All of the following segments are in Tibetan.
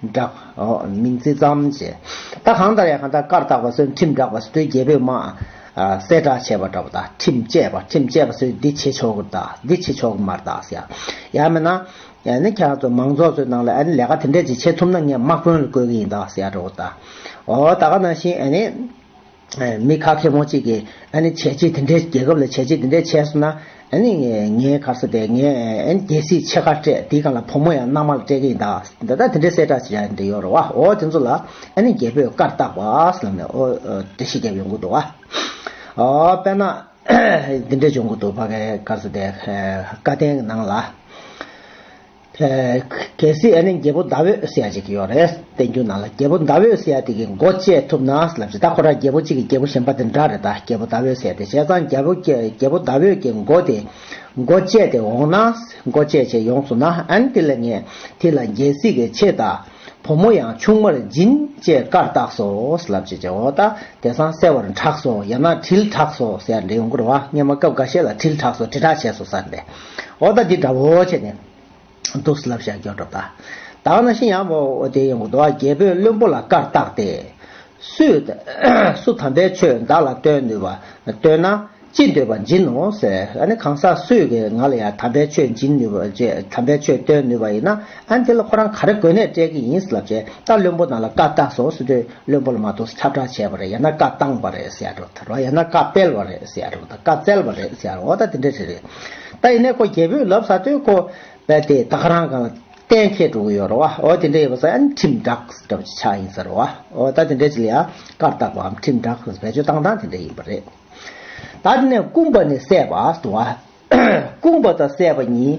བསྒྲགས། མིང་ཚིག་ཙམ་བྱེད། ད་གང་ལྟར་ཡང་གང་ལྟར་བཀར་བཏགས་པ་སོན་ཁྲིམས་བསྒྲགས་པ་སོས་རྒྱལ་པོས་དམག། གསལ་བསྒྲགས་བྱས་པ་འདྲ་བ་དག་ཁྲིམས་བཅས་པ་ཁྲིམས་བཅས་པ་སོས་འདི་བྱེད་ཆོག་གི་གདའ་འདི་བྱེད་ཆོག་གི་མར་གདའ་ཟེར། ཡང་མིན་ན། ནི་ཁྱེད་རང་ཚོ་མང་ཚོགས་ཚོའི་ནང་ལ་ཨ་ནི་ལས་ཀ་དེ་འདྲས་ཅིག་བྱེད་ཐུབ་ན་ངས་དམག་དཔོན་ལ་བསྐོས་གི་ཡིན་གདའ་ཟེར་ཡག་འདྲ་བོ་གདའ། འོ་ད་ག་ནང་བཞིན་ཨ་ནི། མི་ཁ་ཁེ་མོ་གཅིག་གིས་ཨ་ནི་བྱས་རྗེས་དེ་འདྲའི་རྒྱལ་ཁབ་ལ་བྱས་རྗེས་དེ་འདྲའི་བྱས་སོང་ན་ཨ་ནི་ངའི་གར་ས་དེ་ངས་ཨ་ནི་རྒྱལ་སྲིད་ཆེ་ཁ་སྤྲད་དེའི་སྒང་ལ་བུ་མོ་ཡང་མནའ་མ་ལ་སྤྲད་གི་ཡིན་ད་ད་ད་དེ་འདྲའི་གསལ་བསྒྲགས་བྱས་འདི་ཡོད་རེད་བ་ཨོ་དེ་ཚོ་ལ་ཨ་ནི་རྒྱལ་པོས་བཀར་བཏགས་བ་ལབ་ནས་ཨོ་དེ་ཤི་རྒྱབ་ཡོང་གི་འདུག་བ་ཨོ་དཔེར་ན་འདི་འདྲས་བྱུང་གི་འདུག་བ་གའི་གར་ས་དེ་བཀའ་བསྟན་གི་ནང་ལ། གལ་སྲིད་ཨ་ནེ་རྒྱལ་པོ་ཟླ་འོད་སེ་ཡ་ཅིག་ཡོད་རེད་བསྟན་རྒྱུ་ན་ལ་རྒྱལ་པོ་ཟླ་འོད་སེ་ཡ་དེ་གི་མགོ་བཅད་ཐུབ་ན་ལབ་ཅི་ད་ཁོ་ར་རྒྱལ་པོ་གཅིག་གི་རྒྱལ་པོ་གཞན་པ་དེ་འདྲ་རེད་ད་རྒྱལ་པོ་ཟླ་འོད་སེ་ཡ་དེ་བྱས་ཙང་རྒྱལ་པོ་རྒྱལ་པོ་ཟླ་འོད་ཀྱི་མགོ་དེ་མགོ་བཅད་དེ་འོང་ན་མགོ་བཅད་བཅད་ཡོང་སོང་ན་ཨན་དེ་ལ་ངས་དེ་ལ་རྒྱལ་སྲིད་གི་ཆེད་ད་བུ་མོ་ཡང་ཆུང་མར་སྦྱིན་ཅེས་བཀར་བཏགས་སོ་ལབ་ཅི་བྱས་འོ་ད་དེ་སང་གསལ་བར་གྲགས་སོ་ཡང་ན་དྲིལ་གྲགས་སོ་ཟེར་ཡ་འདྲེ་ཡོང་གི་རེད་བ་སྔན་མ་སྐབས་འགའ་ཤས་ལ་དྲིལ་གྲགས་སོ་དྲིལ་གྲགས་བྱས་སོ་ཟེར་འདྲེ། འོ་ད་འདི་འདྲ་བོ་བྱས་ནས། གདུགས་སུ་ལབ་བཞག་སྐྱོན་འགྲོ་བལྟ། བདག་ན་ཤི་ཡང་བོ་དེ་ཡོང་གདུགས་རྒྱལ་པོས་བློན་པོ་ལ་བཀར་བཏགས་ཏེ། སུས། སུ་དམ་པའི་ཆོས་བདག་ལ་སྟོན་ནུས་པ། སྟོན་ན། ཅི་འདོད་པ་སྦྱིན་ནོ་ཟེར། ཨ་ནི་གང་ཟག་སུས་ཀྱིས་ང་ལ་ཡང་དམ་པའི་ཆོས་སྦྱིན་ནུས་པ། དམ་པའི་ཆོས་སྟོན་ནུས་པ་ཡིན་ན། ཨ་ནི་དེ་ལ་ཁོ་རང་ག་རེ་དགོས་ནས་སྤྲད་ཀྱི་ཡིན་ལབ་བྱས། ད་བློན་པོ་ནང་ལ་བཀར་བཏགས་སོ་སུས་འདོད། བློན་པོ་ལ་མ་གཏོགས་ཁྱབ་བསྒྲགས་བྱས་པ་རེད་ཡང་ན་བཀའ་བཏང་བ་རེད་ཟེར་ཡ་འགྲོ་ཐལ་བ་ཡང་ན་བཀའ་སྤེལ་བ་རེད་ཟེར་ཡ་འགྲོ་དང་བཀའ་བཙལ་བ་རེད་ཟེར་ཡ་འགྲོ་འོ་ད་དེ་འདྲ་རེད་རེད་ད་ཡིན་ནའི་ཁོ་རྒྱལ་པོས་ལབ་ས་དོན་ཁོ་བས་དེ་ད་ཁ་རང་གང་ལ་གཏན་འཁེལ་འགྲོ་གི་ཡོད་རོ་བ་འོ་དེ་འདྲ་ཡིན་པ་ཟ་ཡ་ནི་ཁྲིམས་བསྒྲགས་ཟེར་བ་ཆ་ཆག་ཡིན་ས་རོ་བ་འོ་ད་དེ་འདྲ་ཅི་ལ་ཡ་བཀར་བཏགས་པའམ་ཁྲིམས་བསྒྲགས་ཟེར་བ་བེད་སྤྱོད་བཏང་སྟངས་དེ་འདྲ་ཡིན་པ་རེད་ད་དེ་ནས་སྐུང་པ་ནས་བསད་པ་དུ་བ་སྐུང་པ་དང་བསད་པ་གཉིས་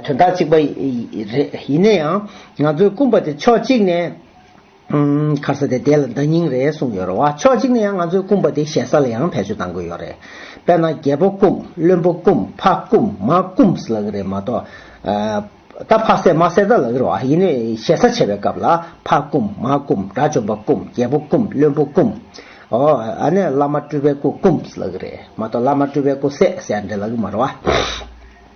དོན་དག་གཅིག་པ་རེད་ཡིན་ན་ཡང་ང་ཚོས་སྐུང་པ་དེ་ཕྱོགས་གཅིག་ནས། ཁར་ས་དེ་དེ་ལ་འདང་སྙིང་རེད་གསུངས་ཡོད་རེད་བ་ཕྱོགས་གཅིག་ནས་ཡང་ང་ཚོའི་སྐུམ་པ་དེ་ཞེ་ས་ལ་ཡང་བེད་སྤྱོད་གཏང་དགོས་ཡོད་རེད་དཔེར་ན་རྒྱལ་པོ་སྐུམ་བློན་པོ་སྐུམ་ཕ་སྐུམ་མ་སྐུམས་ལ་གི་རེད་མ་གཏོགས། ད་ཕག་སེར་མ་སེར་ད་ལ་གི་རེད་བ་ཡིན་ནའི་ཞེ་ས་ཆེ་བའི་སྐབས་ལ་ཕ་སྐུམ་མ་སྐུམ་དགྲ་བཅོམ་པ་སྐུམ་རྒྱལ་པོ་སྐུམ་བློན་པོ་སྐུམ། ཨོ་ཨ་ནས་བླ་མ་སྤྲུལ་པའི་སྐུ་སྐུམས་ལ་གི་རེད་མ་གཏོགས་བླ་མ་སྤྲུལ་པའི་སྐུ་སད་སད་འདྲེ་ལ་གི་མ་རེད་བ།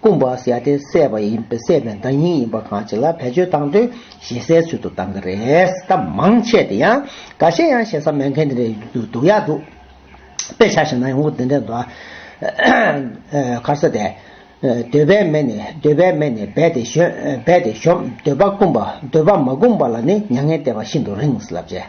སྐུ་འབའ་སི་ཡ་དེ་བསད་པ་ཡིན་པས་བསད་པའི་མདའ་སྙིང་ཡིན་པ་གང་ཅི་ལ་བེད་སྤྱོད་བཏང་དོན་ཞེ་སའི་ཚུལ་དུ་བཏང་གི་རེད་སྟབས་མང་ཆེ་དེ་ཡང་ག་ཤེད་ཡང་ཞེ་ས་མེད་མཁན་དེ་རེད་འདུག་ཡག་འདུག་དཔེ་ཆ་ཞིག་ན་ཡོང་གི་དེ་འདྲས་འདུག་ཨ། མཁར་ས་དེ། འདོད་པའི་མེ་ནི་འདོད་པའི་མེ་ནི་རྦད་དེ་ཞོན་རྦད་དེ་ཞོམ་འདོད་པ་སྐུམ་པ་འདོད་པ་མ་སྐུམ་པ་ལ་ནི་མྱ་ངན་བལྟས་པ་ཤིན་ཏུ་རིངས་ལབ་ཅེས།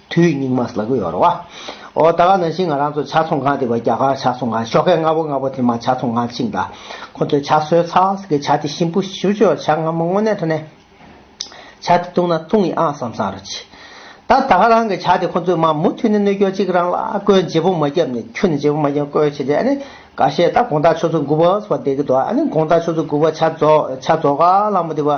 དུས་སྙིགས་མ་ཟླ་གུ་ཡོར་བ། ཨོ་ད་ག་ནང་བཞིན་ང་རང་ཚོ་ཕྱག་ཚོང་ཁང་དེ་བ་རྒྱ་གར་ཕྱག་ཚོང་ཁང་ཤོག་ཁའི་སྔ་བོ་སྔ་བོ་དེ་མ་ཕྱག་ཚོང་ཁང་ཆིག་མདའ། ཁོ་ཚོའི་ཕྱག་སྲོལ་ཚགས་ཀྱི་ཕྱག་དེ་ཤིན་པོ་ཞིབ་ཆོས་ཕྱག་སྔ་མོ་དངོས་གནས་ཐོ་ནས། ཕྱག་དེ་ཐུང་ན་ཐུང་ཡིན་ཨང་བསམ་བསམ་རེ་བྱས། ད་ད་ག་རང་གི་ཕྱག་དེ་ཁོ་ཚོས་མ་མུ་མཐུད་ནས་གནོད་སྐྱོན་གཅིག་རང་ལ་བཀོལ་བརྗེ་པོ་མ་རྒྱབ་ནས་ཁྱུ་ནས་བརྗེ་པོ་མ་རྒྱབ་བཀོལ་བྱས་ཏེ་ཨ་ནི་ག་བཤད་ད་དགོངས་དག་ཆོས་ཚུལ་མགུ་བ་བ་བསྡད་ཀི་འདུག་ཨ་ནི་དགོངས་དག་ཆོས་ཚུལ་མགུ་བ་ཕྱག་རྫོགས་ཕྱག་རྫོགས་ག་ལྷག་མོ་དེ་བ།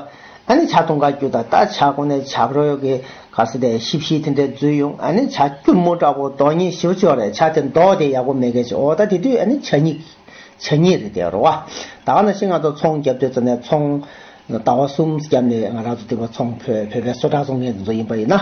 ཨ་ནི་བྱ་ཐུང་ག་རྒྱུ་དང་རྟ་བྱ་ཀོ་ནའི་བྱ་ཕོ་ཡོ་གི་ག་སི་དའི་ཤི་བཤིས་དེ་འདྲས་བརྫུས་ཡོང་ཨ་ནི་བྱ་སྐྱུར་མོ་དྲག་པོ་དོ་གཉིས་ཤི་བ་ཅོ་རེ་བྱ་དེ་མདོག་དེ་ཡག་པོ་མེད་གལ་ཆེ་འོ་ད་དེ་དུས་ཨ་ནི་བྱ་སྙིགས་བྱ་སྙིགས་རེད་དེ་རོ་བ་ད་ག་ན་ཤི་ང་ཚོ་ཚོང་རྒྱབ་དུས་ཙ་ནའི་ཚོང་ཟླ་བ་གསུམ་རྒྱབ་ནས་ང་རང་ཚོ་དུས་བ་ཚོང་བོད་བོད་པའི་སོ་དྲག་ཚོང་མཁན་དེ་ཚོ་ཡིན་པ་ཡིན་ན།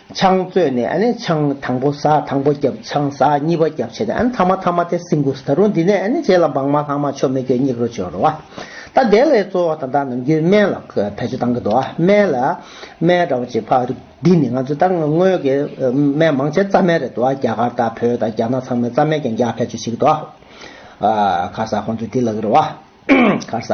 ཆང་བཙོས་ནས་ཨཱ་ནི་ཆང་དང་པོ་བཟའ་དང་པོ་བརྒྱབ་ཆང་བཟའ་གཉིས་པ་བརྒྱབ་བྱས་ཏེ་ཨཱ་ནི་ཐ་མ་ཐ་མ་སྟེ་སིང་གུ་སི་ད་རུང་འདི་ནས་ཨཱ་ནི་རྗེས་ལ་འབངས་མ་ལྷག་མ་ཆོ་མེད་ཀྱི་སྙིགས་རོ་སྦྱོར་རོ། ད་དེ་ལས་གཙོ་བོ་དང་དག་ནམ་རྒྱུན་སྨན་ལ་བེད་སྤྱོད་གཏང་གི་འདུག་སྨན་ལ་སྨན་འདྲ་བོ་ཅིག་ཕ་རིགས་འདི་ནི་ང་ཚོས་ད་སྔོན་གྱི་སྨན་མང་ཆེ་རྩ་སྨན་རེད་འདུག་རྒྱ་གར་དང་བོད་དང་རྒྱ་ནག་ཚང་མས་རྩ་སྨན་ཀྱང་རྒྱག་བེད་སྤྱོད་བྱེད་ཀྱི་འདུག་ཨཱ། ཁ་ཟ་ཁོང་ཚོས་འདི་ལ་གི་རོ། ཁ་ཟ།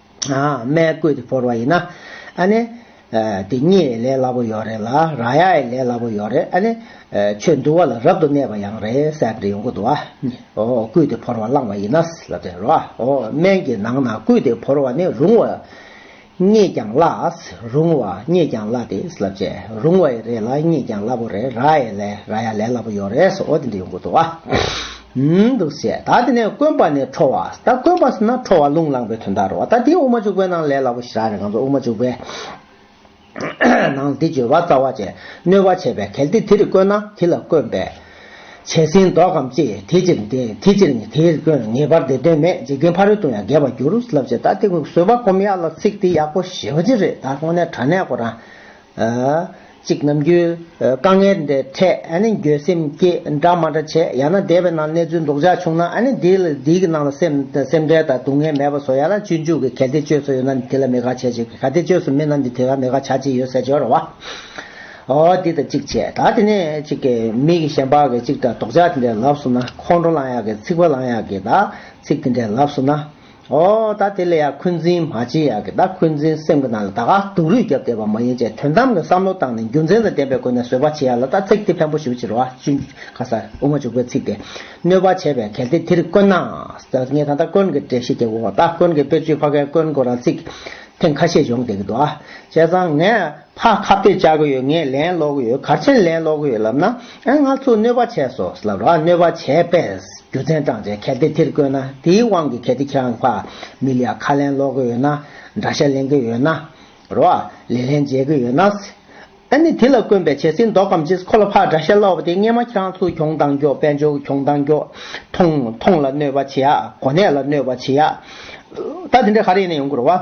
མའི་བསྐོས་ཏེ་བོར་བ་ཡིན་ན། ཨ་ནི། དེ་སྙེད་ཡི་ལས་སླ་པོ་ཡོད་རེད་ལ། ར་ཡ་ཡི་ལས་སླ་པོ་ཡོད་རེད་ཨ་ནི། ཆོས་འདུལ་བ་ལ་རབ་ཏུ་གནས་པ་ཡང་རེད་སེ་འབྲི་ཡོང་གི་འདུག་ཨ། བསྐུས་ཏེ་བོར་བ་བླངས་བ་ཡིན་ན། ལབ་ཙེ་རོ། སྨན་གྱི་ནང་ན་བསྐུས་ཏེ་བོར་བ་ནི་རུང་བ། སྙེད་ཀྱང་སླ། རུང་བ། སྙེད་ཀྱང་སླ་སྟེ། ལབ་ཙེ། རུང་བ་ཡི་རེད་ལ་སྙེད་ཀྱང་སླ་པོ་རེད་ར་ཡི་ལས་ར་ཡ་ལས་སླ་པོ་ཡོད་རེད་སོ་འདི་འདྲ་ཡོང་གི་འདུག་ཨ། ཡིན་འདུག་ཟེར་ད་དེ་ནས་དཀོན་པ་ནས་ཁྲོ་བ་ཟེར་ད་དཀོན་པ་ཟེར་ན་ཁྲོ་བ་རླུང་ལངས་པའི་དོན་དག་རོ་ད་དེའི་དབུ་མ་བྱུག་པའི་ནང་ལས་སླ་པོ་ཞིག་རག་རེད་གང་ཚོད་དབུ་མ་བྱུག་པའི་ནང་འདི་བརྗོད་པ་རྩ་བ་ཅན་གནོད་པ་བྱེད་པའི་གལ་ཏེ་དེ་རིགས་དཀོན་ན་དེ་ལ་དཀོན་པས་བྱས་ཟིན་ལྡོག་གམ་ཅི་དེ་ཕྱིར་དེ་ཕྱིར་ནི་དེ་རིགས་དཀོན་ངེས་པར་དེ་དོན་མེད་འཇིག་རྟེན་ཕ་རོལ་ཏུ་ཡང་རྒལ་བར་འགྱུར་ལབ་ཅེས་ད་དེ་བཟོད་པ་སྒོམ་ཡག་ལ་ཚིག་དེ་ཡག་པོ་ཞེ་བ་ཅི་རེད་ད་དངོས་གནས་དྲ་གནས་སྐོར་རང་གཅིག་ནམ་རྒྱུན་དཀའ་ངལ་འདི་འཕྲད་འགྱོད་སེམས་སྐྱེས་འདྲ་མ་འདྲ་བྱེད་ཡང་ན་སྡེ་བའི་ནང་གནས་ཚུལ་འདོགས་འཇགས་བྱུང་ན་སྡེ་གི་ནང་ལ་སེམས་ཁྲལ་དང་སྡུག་བསྔལ་མེད་པ་བཟོ་ཡང་ན་སྤྱོད་འཇུག་གི་གལ་ཏེ་སྤྱོད་སོ་ཡོད་ན་དེ་ལ་མེད་དགག་བྱས་ཅི་ག་ཏེ་སྤྱོད་སོ་མེད་ན་འདི་དེ་ག་མེད་དགག་བྱ་ཅི་ཡོད་ཟེར་གྱི་རེད་བ། འདི་དང་གཅིག་བྱས་ད་དེ་ནས་གཅིག་གི་མིག་གི་ཞེན་པག་གི་གཅིག་འདྲ་འདོགས་འཇགས་དེ་འདྲའི་ལབ་སོ་ན་ཁོང་ཁྲོ་ལངས་ཡག་གི་ཚིག་པ་ལངས་ཡག་གི་དག་ཚིག་དེ་འདྲའི་ལབ་སོ་ན། ཨོ། ད་དེ་ལས་ཡང་འཁོན་འཛིན་མ་བྱེད་ཡག་གི་ད་འཁོན་འཛིན་སེམས་ཀྱི་ནང་ལ་ད་ག་དུག་རུས་བརྒྱབ་བསྡད་པ་མ་ཡིན་ཅེས་དོན་དམ་གྱི་བསམ་བློ་བཏང་ནས་རྒྱུ་མཚན་དང་ལྡན་པའི་སྒོ་ནས་བཟོད་པ་བྱེད་ཡག་ལ་ད་ཚིག་དེ་ཕན་པོ་ཞུ་ཕྱིར་རོ་ཨ། ཅུང་ཁ་སར་དབུ་མ་འཇུག་པའི་ཚིག་དེ། གནོད་པ་བྱས་པས་གལ་ཏེ་དེར་དཀོན་ན། ངས་ད་ལྟ་དཀོན་གྱི་འགྲེལ་བཤད་རྒྱབ་གོ། ད་དཀོན་གྱི་དཔེར་བརྗོད་ཕ་གའི་དཀོན་སྐོར་རང་ཚིག། ཐེངས་ཁ་ཤས་སྦྱོང་བསྡད་ཀྱི་འདུག་ཨ། བྱས་ཙང་ངས། ཕ་ཁ་བརྡས་བཅར་གྱི་ཡོད་ངས་ལན་སློག་གི་ཡོད་གར་ཆེན་ལན་སློག་གི་ཡོད་ལབ་ན་ཨེ་ང་ཚོ་གནོད་པ་བྱས་སོ་ལབ་རོགས་ཨ་གནོད་པ་བྱས་པས་རྒྱུ་མཚན་བགྲང་བྱས་གལ་ཏེ་དེར་བཀོད་ན་དེའི་དབང་གིས་གལ་ཏེ་ཁྱེད་ཕ་མི་ལ་ཡང་ཁ་ལན་སློག་གི་ཡོད་ན་འདྲ་བཤད་ལེན་གི་ཡོད་ན་རོགས་ཨ་ལས་ལན་འཇལ་གི་ཡོད་ན་ཨེ་ནི་དེ་ལ་དཀོན་པའི་བྱས་ཚིག་འདོག་གམ་ཅིས་ཁོ་ལ་ཕ་འདྲ་བཤད་སློག་པ་དེ་སྔས་མ་ཁྱེད་རང་ཚོ་གྱོང་དང་གྱོ་དཔལ་འབྱོར་གྱི་གྱོང་དང་གྱོ་ཐོང་ཐོང་ལ་གནོད་པ་བྱས་ཨ་གོ་གནས་ལ་གནོད་པ་བྱས་ཨ་ད་དེ་འདྲ་ག་རེ་ཡིན་ན་ཡོང་གི་རོགས་ཨ།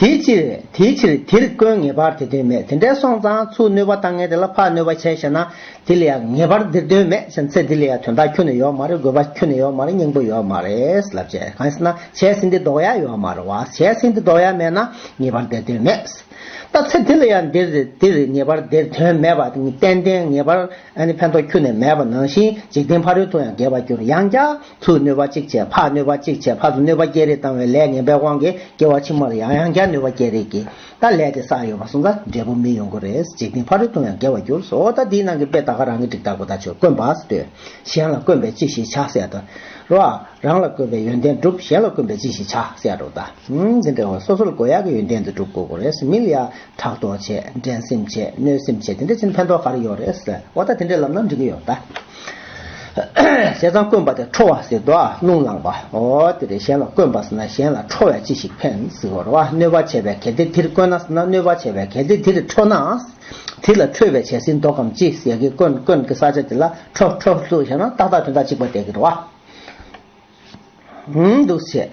དེའི་ཕྱིར་དེའི་ཕྱིར་དེར་དཀོན་ངེས་པར་དེ་དོན་མེད་དེ་འདྲའི་སོང་ཙང་ཚུར་གནོད་པ་བཏང་ངན་དེ་ལ་ཕར་གནོད་པ་བྱས་ཤེ་ན་དེ་ལ་ཡང་ངེས་པར་འདིར་དོན་མེད་ཕྱིན་ཚེ་དེ་ལ་ཡང་དོན་དག་ཁྱོན་ནས་ཡོད་མ་རེད་དགོས་པ་ཁྱོན་ནས་ཡོད་མ་རེད་སྙིང་པོ་ཡོད་མ་རེད་ལབ་བྱས་གང་ཟེར་ན་བྱས་ཟིན་དེ་ལྡོག་ཡ་ཡོད་མ་རེད་བ་བྱས་ཟིན་དེ་ལྡོག་ཡ་མེད་ན་ངེས་པར་དེར་དོན་མེད་ལྟ་ཚེ་དེ་ལ་ཡང་འདིར་འདིར་ངེས་པར་དེར་དོན་མེད་པ་ཏན་ཏན་ངེས་པར་ཕན་ཐོགས་ཁྱོན་ནས་མེད་པ་ནང་བཞིན་འཇིག་རྟེན་ཕ་རོལ་དུ་ཡང་འགལ་བར་འགྱུར་ཡང་བསྐྱར། ཚུར་གནོད་པ་གཅིག་བྱས་ཕར་གནོད་པ་གཅིག་བྱས་ཕར་དུ་གནོད་པ་བསྐྱེད་རེས་བཏང་བའི་ལས་ངན་པའི་དབང་གིས་སྐྱེ་བ་ཕྱི་མར་ཡང་ཡང་བསྐྱར་གནོད་པ་བསྐྱེད་རེས་ཀྱིས་ད་ལས་དེ་བསགས་ཡོད་པ་སོང་ཙང་འབྲས་བུ་མི་ཡོང་གི་རེད་འཇིག་རྟེན་ཕ་རོལ་ཏུ་ཡང་འགལ་བར་གྱུར་སོ་ད་འདིའི་ནང་གི་དཔེ་ད་ག་རང་གི་འགྲིག་ད་གོ་ད་ཆོས་དཀོན་པ་ཟེར་དུས་གཞན་ལ་དཀོན་པས་ཅི་ཞིག་བྱ་ཟེར་ཏེ་རོ། རང་ལ་དཀོན་པའི་ཡོན་ཏན་བསྒྲུབ་གཞན་ལ་དཀོན་པས་ཅི་ཞིག་བྱ་ཟེར་རོ་ད། འདི་འདྲ་བ་སོ་སོ་ལ་དགོས་ཡག་གི་ཡོན་ཏན་དེ་བསྒྲུབ་དགོས་གོ་རེད་མི་ལ་ཡང་ཕྲག་དོག་བྱེད་འགྲན་སེམས་བྱེད་གནོད་སེམས་བྱེད་དེ་འདྲ་བྱས་ན་ཕན་ཐོག་ག་རེ་ཡོད་རེད་ཨོ་ད་དེ་འདྲའི་ལམ་ན་འགྲིག་གི་ཡོད་ད། ཟས་གཙང་དཀོན་པ་དེ་ཁྲོ་བ་ཟེར་དོ། རླུང་བླངས་པ། འོ་དེ་རེ་གཞན་ལ་དཀོན་པ་ཟེར་ན་གཞན་ལ་ཁྲོ་བས་ཅི་ཞིག་ཕན། ཟེར་བ། གནོད་པ་བྱེད་པའི་གལ་ཏེ་དེར་དཀོན་ན་ཟེར་ན་གནོད་པ་བྱེད་པའི་གལ་ཏེ་དེར་ཁྲོ་ན། དེ་ལ་ཁྲོས་པའི་བྱད་ཟིན་བཟློག་གམ་ཅི་ཟེར་གི་དཀོན་དཀོན་གི་ས་ཆ་དེ་ལ་ཁྲོ་ཁྲོ་ལྷུ་ཞེ་ན་ཏག་ཏག་དོན་དག་གཅིག་པ་བསྡད་ཀྱི་རེད་བ། འདུག་བྱེད།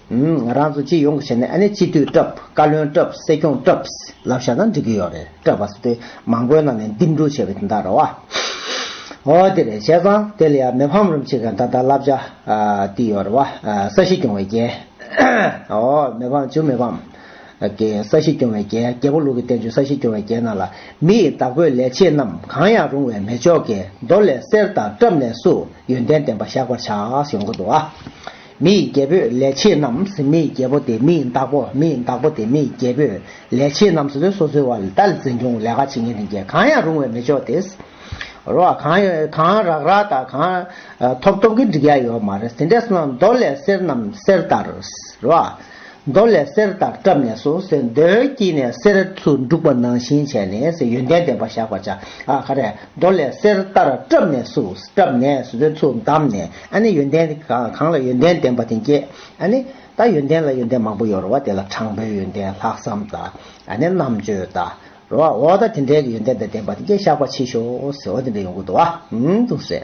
ང་རང་ཚོ་སྤྱི་ཡོངས་ཀྱི་ཆ་ནས་ཨ་ནེ་སྤྱི་འཐུས་སྐྲབས་བཀའ་བློན་སྐྲབས་སྲིད་སྐྱོང་སྐྲབས་ལབ་བཞག་ན་འགྲིག་གི་ཡོད་རེད་སྐྲབས་བ་སོ་དེ་མང་པོའི་ནང་ནས་འདེམས་སྒྲུག་བྱས་པའི་དེ་འདྲ་རེད་བ། འོ་དེ་རེད་བྱས་ཙང་དེ་ལ་ཡང་མི་ཕམ་རུམ་བྱེད་མཁན་ད་ལྟ་ལབ་བཞག་དེ་ཡོད་རེད་བ། ས་གཞི་སྐྱོང་བའི་རྒྱལ། འོ་མི་ཕམ་བྱུང་མི་ཕམ། ཀྱི་ས་གཞི་སྐྱོང་བའི་རྒྱལ་རྒྱལ་པོ་ལུགས་ཀྱི་བསྟན་བཅོས་ས་གཞི་སྐྱོང་བའི་རྒྱལ་རྣམས་ལ་མི་ཡི་བདག་པོས་ལས་བྱེད་རྣམས་གང་ཡང་རུང་བའི་མེ་ལྕོག་གི་མདོ་ལས་གསེར་དང་སྐྲབས་ནས་སུ་ཡོན་ཏན་ལྡན་པ་བཞག་པར་བྱ་ཞེས་འོང་གི་འདུག་བ། མི་ཡི་རྒྱལ་པོས་ལས་བྱེད་རྣམས་མི་ཡི་རྒྱལ་པོ་དེ་མི་ཡི་བདག་པོ་མི་ཡི་བདག་པོ་དེ་མི་ཡི་རྒྱལ་པོས་ལས་བྱེད་རྣམས་སུ་ལས་སོ་སོའི་བར་ལྟར་འཛིན་སྐྱོང་ལས་ཀ་བྱེད་ངན་ལེན་གྱིས་གང་ཡང་རུང་བའི་མི་ཆོག་དེས་རོ་ཨ་གང་ཡོད་གང་རག་རག་དང་གང་ཐོབ་ཐོབ་ཀྱིས་འགྲིག་ཡ་ཡོད་མ་རེད་དེ་འདྲས་སུ་ན་མདོ་ལས་གསེར་རྣམས་གསེར་ལྟར་རོ་ཨ། མདོ་ལས་གསེར་ལྟར་བཀྲམ་ནས་སོ་སེར་མདོའི་དཀྱིལ་ནས་གསེར་ཚུལ་འབྲུག་པ་ནང་བཞིན་བྱས་ནས་ཡོན་ཏན་ལྡན་པར་བཞག་པར་བྱ། ཧ་རེ། མདོ་ལས་གསེར་ལྟར་བཀྲམ་ནས་སུ། བཀྲམ་ནས་སོ་ཚུལ་བསྡམས་ནས་ཨ་ནི་ཡོན་ཏན་གང་ལ་ཡོན་ཏན་ལྡན་པ་དེ་བསྐྱེད། ཨ་ནི། ད་ཡོན་ཏན་ལ་ཡོན་ཏན་མང་པོ་ཡོད་རོ་བ་དེ་ལ་དྲང་པོའི་ཡོན་ཏན་ལྷག་བསམ་དང། ཨ་ནི་རྣམ་དཔྱོད་དང། རོ་བ་འོ་ད་དེ་འདྲའི་ཡོན་ཏན་དང་ལྡན་པ་དེ་བསྐྱེད་བཤགས་པ་མཆིས་ཤོག། འོ་དེ་འདྲ་ཡོང་གི་འདུག་བ། འདུག་སེ།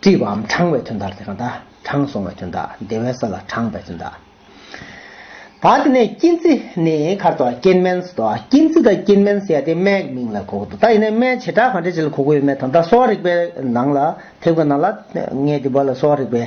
བཀྲིས་པའམ་དྲངས་བའི་དོན་དག་དེ་གང་དག། དྲངས་སོང་བའི་དོན་དག་བདེ་བའི་ས་ལ་དྲངས་པའི་དོན་དག། དག་དེ་ནས་སྐྱིན་ཚི་ནི་མཁར་དོ་སྐྱིན་མན་ས་དོ་སྐྱིན་ཚི་དང་སྐྱིན་མན་ས་ཡ་དེ་སྨད་ཀྱི་མིང་ལ་གོ་དགོ་དོ་ད་ཡིན་ནའི་སྨད་བྱེ་བྲག་གང་འདྲ་ཅི་ལ་གོ་དགོ་ཡོད་མེད་དང་ད་གསོ་བ་རིག་པའི་ནང་ལ་ཐེབས་ཀྱི་ནང་ལ་ངས་འདི་བར་ལ་གསོ་བ་རིག་པའི།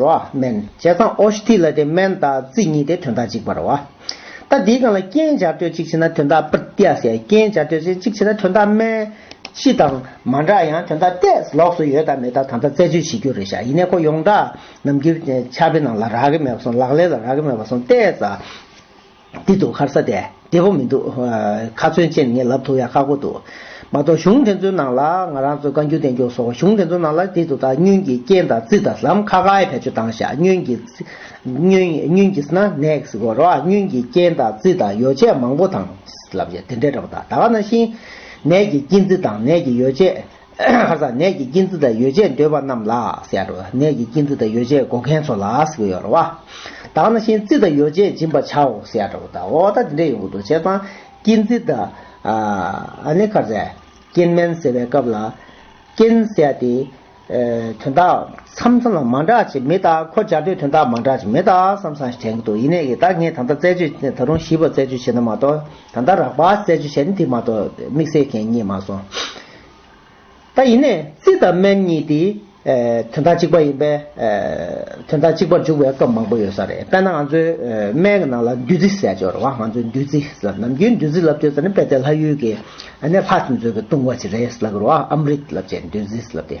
རོ། སྨན། བྱས་ཙང་ཨོ་ཤི་ཐི་ལ་དེ་སྨན་དང་རྩི་གཉིས་ཏེ་དོན་དག་གཅིག་པར་བ། ད་འདིའི་སྒང་ལ་རྐྱེན་སྦྱར་སྤྲོད་ཅིག་བྱེད་ན་དོན་དག་པྲི་ཏི་ཨ་སེ་རྐྱེན་སྦྱར་སྤྲོད་ཅིག་བྱེད་ན་དོན་དག་སྨན། ཤི་དང། མ་འདྲ་ཡང་དོན་དག་ཏས་ལོགས་སུ་ཡོད་དང་མེད་དག་ད་ལྟ་རྩད་གཅོད་བྱེད་རྒྱུ་རེད་ཤག་ཡིན་ནས་ཁོ་ཡོངས་གྲགས་ནམ་འགྱུར་ཆ་པའི་ནང་ལ་རག་གི་མེད་པ་སོང་ལག་ལེན་ལ་རག་གི་མེད་པ་སོང་ཏས། འདི་འདུག་ཁར་ས་དེ་བདེ་པོ་མི་འདུག། ཁ་ཚོན་ཅན་ངས་ལབ་ཐུབ་ཡ་ཁག་པོ་འདུག། མ་གཏོགས་གཞུང་དེ་ཚོའི་ནང་ལ་ང་རང་ཚོའི་བཀའ་འགྱུར་བསྟན་འགྱུར་སོགས་གཞུང་དེ་ཚོའི་ནང་ལ་དེ་དུ་དང་བསྙུན་གྱིས་རྐྱེན་དང་རྩིས་དང་ལམ་ཁ་ཁ་ཡི་བེད་སྤྱོད་བཏང་ཤག་བསྙུན་གྱིས་བསྙུན་བསྙུན་གྱིས་ན next སྒོར་རོགས་བསྙུན་གྱིས་རྐྱེན་དང་རྩིས་དང་ཡོ་བྱད་མང་པོ་དང། ལབ་ཡ་དེ་འདྲའི་འདྲ་པོ་དང་ད་ག་ན་ཤིང། ནས་ཀྱིས་རྐྱེན་རྩིས་དང་ནས་ཀྱིས་ཡོ་བྱད། ཁར་སང་ནད་ཀྱི་སྐྱིན་ཚུལ་དང་ཡོ་བྱད་འདོད་པ་རྣམས་ལ་ཟེར་རོ། ནད་ཀྱི་སྐྱིན་ཚུལ་དང་ཡོ་བྱད་བགོ་མཁན་ཚོ་ལ་ཟེར་ཡོད་རོ། བདག་ན་ཤིང་རྩི་དང་ཡོ་བྱད་སྦྱིན་པར་བྱའོ་ཟེར་རོ། འོ་ད་དེ་འདྲས་ཡོང་གི་འདུག་བྱས་ཙང་སྐྱིན་ཚིལ་དང། ནི་ཁར་སང་སྐྱིན་སྨན་ཟེར་བའི་སྐབས་ལ། སྐྱིན་ཟེར་ཏེ། དོན་དག་མཚམས་མཚམས་ལ་མ་འདྲ་ཅིག་མི་གདའ་ཁོ་སྦྱར་དུས་དོན་དག་མ་འདྲ་ཅིག་མི་གདའ་བསམ་བསམ་ཞིག་དྲན་གི་འདུག་ཡིན་ནའི་གདའ་ངས་ད་ལྟ་རྩད་གཅོད་ད་རུང་ཞིབ་པར་རྩད་གཅོད་བྱས་ན་མ་གཏོགས་ད་ལྟ་རགས་པ་རྩད་གཅོད་བྱས་ནི་དེ་མ་གཏོགས་དམིགས་བསལ་གན་རྙེད་མ་སོང། ད་ཡིན་ནས་རྩི་དང་སྨན་གཉིས་དེ། དོན་དག་གཅིག་པ་ཡིན་པས། དོན་དག་གཅིག་པར་འཇུག་པའི་སྐབས་མང་པོ་ཡོད་ས་རེད་དཔེར་ན་ང་ཚོའི་སྨན་གྱི་ནང་ལ་བདུད་རྩི་ཟེར་སྦྱོར་བ་ང་ཚོས་བདུད་རྩི་ཟེར་ནམ་རྒྱུན་བདུད་རྩི་ལབ་སྤྱོད་ཟེར་ནི་དཔེ་དེ་ལྷ་ཡུལ་གྱི། ནས་ལྷ་ཚོས་མཛོད་ཀྱི་བཏུང་བ་ཅིག་རེད་ལབ་སྦྱོར་བ་ཨམ་རིད་ལབ་སྤྱད་ནི་བདུད་རྩི་ལབ་སྟེ།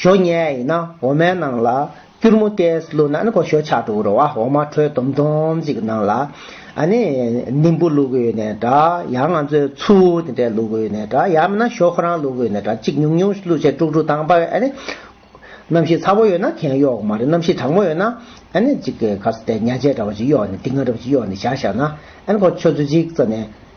ཞོ་ཉལ་ཡིན་ན་འོ་མའི་ནང་ལ་སྐྱུར་མོ་ཏས་བླུག་ན་ནི་གོ་ཞོ་ཆག་འགྲོ་གི་རོ་འོ་མ་དྲོད་དུམ་དུམ་ཅིག་གི་ནང་ལ་ཨ་ནི་ནིམ་བུ་བླུག་གི་ནས་འདྲ་ཡང་ང་ཚོས་ཆུ་དེ་འདྲས་བླུག་གི་ནས་འདྲ་ཡང་མིན་ན་ཞོ་ཁོ་རང་བླུག་གི་ནས་འདྲ་གཅིག་ཉུང་ཉུང་བླུག་བྱས་དཀྲུག་དཀྲུག་དྭངས་པ་ཨ་ནི། རྣམ་ཤེས་ཚ་བོ་ཡོད་ན་གན་གཡོག་མ་རེད་རྣམ་ཤེས་གྲང་མོ་ཡོད་ན་ཨ་ནི་གཅིག་གི་ག་ཚོད་དེ་ཉལ་བྱས་འདྲ་བ་ཅིག་གཡོག་ནས་སྡིག་ངར་འདྲ་བ་ཅིག་གཡོག་ནས་བཞག་བཞག་ན་ཨ་ནི་གོ་ཆོད་ཚོད་ཅིག་བཙལ་ནས།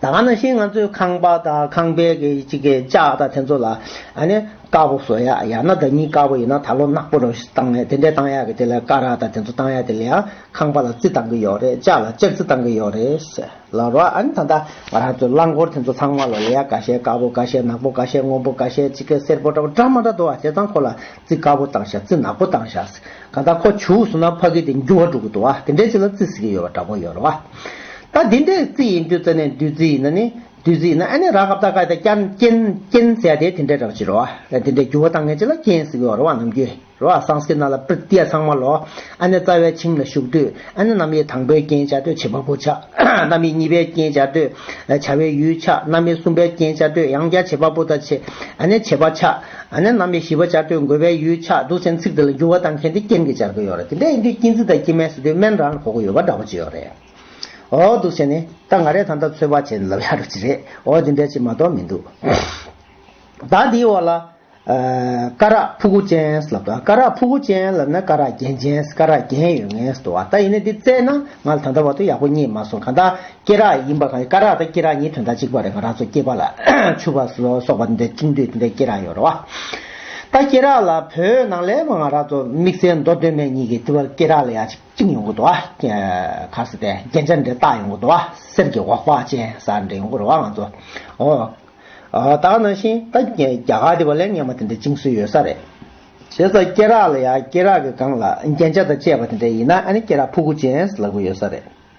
ད་ག་ནང་བཞིན་ང་ཚོའི་ཁང་པ་དང་ཁང་པའི་གི་གཅིག་གི་ལྕགས་དང་དེ་ཚོ་ལ་ཨ་ནི་དཀར་པོ་བཟོ་ཡ་ཡ་ན་བདག་ཉིད་དཀར་པོ་ཡིན་ན་ད་ལོ་ནག་པོ་རང་བཞིན་བཏང་ཡ་དེ་འདྲས་བཏང་ཡ་གི་དེ་ལ་དཀར་རག་དང་དེ་ཚོ་བཏང་ཡ་དེ་ལ་ཡང་ཁང་པ་ལ་རྩི་བཏང་གི་ཡོག་རེད་ལྕགས་ལ་ལྕགས་རྩི་བཏང་གི་ཡོག་རེད་ཟེར་ལ་རོ་ཨ་ནི་ད་ལྟ་ང་རང་ཚོའི་རླངས་འཁོར་དེ་ཚོ་ཚང་མ་ལ་ལ་ཡ་ག་ཤེད་དཀར་པོ་ག་ཤེད་ནག་པོ་ག་ཤེད་སྔོན་པོ་ག་ཤེད་གཅིག་གི་སེར་པོ་འདྲ་པོ་འདྲ་མ་འདྲ་འདུག་ཨ་དེ་ཚང་ཁོ་ལ་རྩི་དཀར་པོ་བཏང་བཞག་རྩི་ནག་པོ་བཏང་བཞག་གང་ལྟར་ཁོ་བྱུག་སོང་ན་ཕ་གི་དེ་འགྱུར་བ་འགྲོ་གི་འདུག་ཨ་དེ་འདྲའི་ཆེ་ལ་རྩི་བཟི་གི་ཡོད་པ་འདྲ་པོ་ཡོད་རེད་བ། ད་དེ་འདྲའི་རྩི་ཡིན་དུས་རྩ་ནས་བདུད་རྩི་ཡིན་ན་ནི་བདུད་རྩི་ཡིན་ན་ཨ་ནི་རག་གབ་ད་ཀ་ད་རྐྱང་རྐྱེན་རྐྱེན་བཟས་དེ་དེ་འདྲའི་རག་བྱེད་རེད་བ། དེ་འདྲའི་འགྱུར་བ་བཏང་ངེས་ཆེ་ལ་རྐྱེན་བཟི་གི་ཡོད་རེད་བ་ནམ་རྒྱུན་རེད་བ་སངས་ཀི་ན་ལ་པིར་ཏི་ཡ་ཚང་མ་ལོ་ཨ་ནི་རྩ་བའི་ཁྱིམ་ལ་བཞུགས་དུས་ཨ་ནི་གནམ་ཡིག་དང་པོའི་རྐྱེན་བྱ་དུས་བྱེད་པ་པོ་ཆགས་གནམ་ཡིག་གཉིས་པའི་རྐྱེན་བྱ་དུས་བྱ་བའི་ཡུལ་ཆགས་གནམ་ཡིག་གསུམ་པའི་རྐྱེན་བྱ་དུས་ཡང་བསྐྱར་བྱེད་པ་པོ་ད་བྱེད་ཨ་ནི་བྱེད་པ་ཆགས། ཨ་ནེ་རྣམ་པའི་བཞི་པ་སྦྱར་དུས་འགོད་པའི་ཡུལ་ཆགས་འདུག་ཚན་ཚིག་དེ་ལ་འགྱུར་བ་གཏང་མཁན་དེ་རྐྱེན་གྱིས་སྦྱར་གི་ཡོད་རེད་དེ་འདྲའི་ཡིན་དུས་སྐྱིན་ཚིག་དང་སྐྱིན་མའི་ཟེར་དུས་སྨན་རང་ལ་གོ་གི་ཡོད་པ་འདྲ་པོ་ཅི་ཡོད་རེད། འོ་འདུག་བྱས་ནས་ད་ང་རས་ད་ལྟ་ཚོད་དཔག་བྱས་ནས་ལབ་ཡག་འགྲོ་ཅི་རེད་འོ་དེ་འདྲའི་ཆེ་མ་གཏོགས་མི་འདུག་ད་འདིའི་འོག་ལ། སྐ་རགས་ཕུ་གུ་ཅན་ལབ་ད་སྐ་རགས་ཕུ་གུ་ཅན་ལབ་ན་སྐ་རགས་རྒྱན་ཅན་སྐ་རགས་རྒྱན་ཡོད་ངེས་འདུག་བ་ད་ཡིན་ན་འདི་བཙལ་ན་ང་ལ་ད་ལྟ་བར་དུ་ཡག་པོ་རྙེད་མ་སོང་གང་ལྟར། སྐེ་རགས་ཡིན་པ་གང་ཡིན་སྐ་རགས་དང་སྐེ་རགས་གཉིས་དོན་དག་གཅིག་པ་རེད་ག་རགས་ཚོ་སྐེད་པ་ལ་ཆུ་བ་སོགས་པ་འདི་འདྲ་བཅིངས་དུས་འདི་འདྲའི་སྐེ་རགས་ཡོད་རེད་བ། ད་སྐེ་རགས་ལ་བོད་ནང་ལས་ང་རགས་ཚོ་དམིགས་བསལ་མདོ་སྟོད་སྨད་གཉིས་ཀྱི་ལྟེ་བར་སྐེ་རགས་ལ་ཡ་གཅིག་བཅིངས་ཡོང་གི་འདུག་བ། གར་ས་དེ་རྒྱན་ཆ་འདྲ་བཏགས་ཡོང་གི་འདུག་བ་གསེར་གྱི་འོག་པགས་ཅན་ས་འདྲ་ཡོང་གི་རེད་བ་ང་ཚོ། ཨོ། ད་ནང་བཞིན་ད་རྒྱ་གར་དེ་བ་ལས་ངན་པ་དེ་འདྲ་བཅིངས་སྲོལ་ཡོད་ས་རེད། བྱས་ཙང་སྐེ་རགས་ལ་ཡ་སྐེ་རགས་ཀྱི་སྒང་ལ་རྒྱན་ཆ་དང་བཅས་པ་དེ་འདྲ་ཡིན་ན་ཨ་ནི་སྐེ་རགས་ཕུག་གུ་ཅན་ལག་པོ་ཡོད་ས་རེད།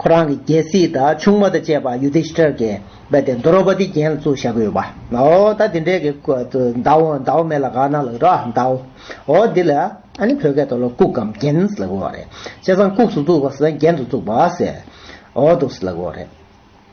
ཁོ་རང་གི་རྒྱལ་སྲིད་དང་ཆུང་མ་དང་བཅས་པ་ཡུ་དྷི་ཤི་ཏྲར་གྱིས་རྦད་དེ་འདོ་རོ་པ་ཏིའི་རྒྱན་ལ་བཙུགས་བཞག་གི་ཡོད་པ། ཨོ་ད་འདི་འདྲའི་གི་ཀུ་ཏུ་མདའ་འོ་མདའ་འོ་མེ་ལ་ག་ན་ལགས་འགྲོ་ཨ་མདའ་འོ། ཨོ་འདི་ལ་ཨ་ནི་བོད་སྐད་དུ་ལོ་ལྐུགས་གམ་རྒྱན་ལ་གོ་བ་རེད། བྱས་ཙང་ལྐུགས་སུ་བཙུགས་པ་སོགས་རྒྱན་དུ་བཙུགས་པ་ཟེར། ཨོ་འདུག་ལ་གོ་བ་རེད།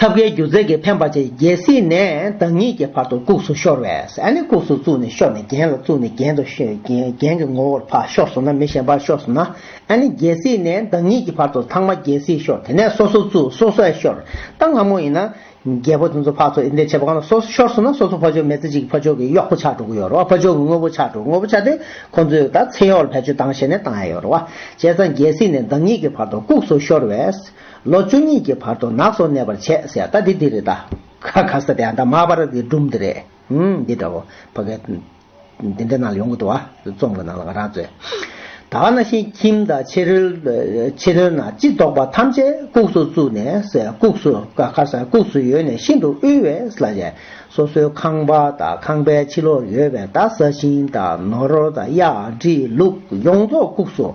ཐབ་ཀའི་རྒྱུ་རྫས་ཀྱིས་འཕེན་པ་བཅས་རྒྱལ་སྲིད་ནས་བདག་ཉིད་ཀྱི་བར་དུ་བཀུགས་སུ་ཤོར་བས། བཀུགས་སུ་བཙུགས་ནས་ཤོར་ནས་རྒྱན་ལ་བཙུགས་ནས་རྒྱན་དུ་རྒྱན་གྱི་ངོ་བོར་འཕགས་ཤོར་སོང་ན་མི་གཞན་པར་ཤོར་སོང་ན། རྒྱལ་སྲིད་ནས་བདག་ཉིད་ཀྱི་བར་དུ་ཚང་མ་རྒྱལ་སྲིད་ཤོར་དེ་ནས་སོ་སོ་བཙུགས་སོ་སོས་ཤོར། རྟ་སྔ་མོ་ཡིན་ན། རྒྱལ་པོ་དེ་ཚོ་འཕགས་ཚོགས་ཨི་འདྲས་བྱེད་པ་གང་ལ་སོ་སོ་ཤོར་སོང་ན་སོ་སོ་ཕོ་ཆོག་མེ་བཙའ་གཅིག་ཕོ་ཆོག་གི་གཡོག་པོ་ཆགས་འགྲོ་གི་ཡོད་རེད་བ་ཕོ་ཆོག་གི་དངོས་པོ་ཆགས་འགྲོ་དངོས་པོ་ཆགས་ཏེ་ཁོང་ཚོས་ད་མཚན་གཡོག་ལ་བེད་སྤྱོད་བཏང་ཞེས་ནས་བཏང་ཡ་ཡོད་རེད་བ་བྱས་ཙང་རྒྱལ་སྲིད་ནས་བདག་ཉིད་ཀྱི་བར་དུ་བཀུགས་སུ་ཤོར་བས། ལོ་བཅུ་གཉིས་ཀྱི་བར་དུ་ནགས་སུ་གནས་པར་བྱས་ཟེར་ད་དེ་འདི་རེད་ད། ཁ་ཁ་ཟེར་དེ་ཨ་མདའ་མག་པར་གྱི་སྒྲུང་འདི་རེད། ཨང་འདི་འདྲ་བོ། ཕ་གས། འདི་འདྲ་ནང་ལ་ཡོང་གི་འདུག་ཨ། རྩོམ་གྱི་ནང་ལ་ང་རང་ཚོས། ད་ཨ་ན་ཤིང་ཁྱིམ་དང་ཕྱི་རོལ། ཕྱི་རོལ་ན་ཅི་བདོག་པ་ཐམས་ཅད་ལྐུགས་སུ་བཙུགས་ནས་ཟས་ལྐུགས་སུ་ཁར་ཟས་ལྐུགས་སུ་ཡོད་ནས་ཤིན་ཏུ་དབུལ་བས་ལ་བྱས། སོ་སོའི་ཁང་པ་དང་ཁང་པའི་ཕྱི་ལོགས་ཡོད་པའི་དག་ས་ཤིང་དང་ནོར་དང་གཡག་དྲི་ལུག་ཡོངས་རྫོགས་ལྐུགས་སུ།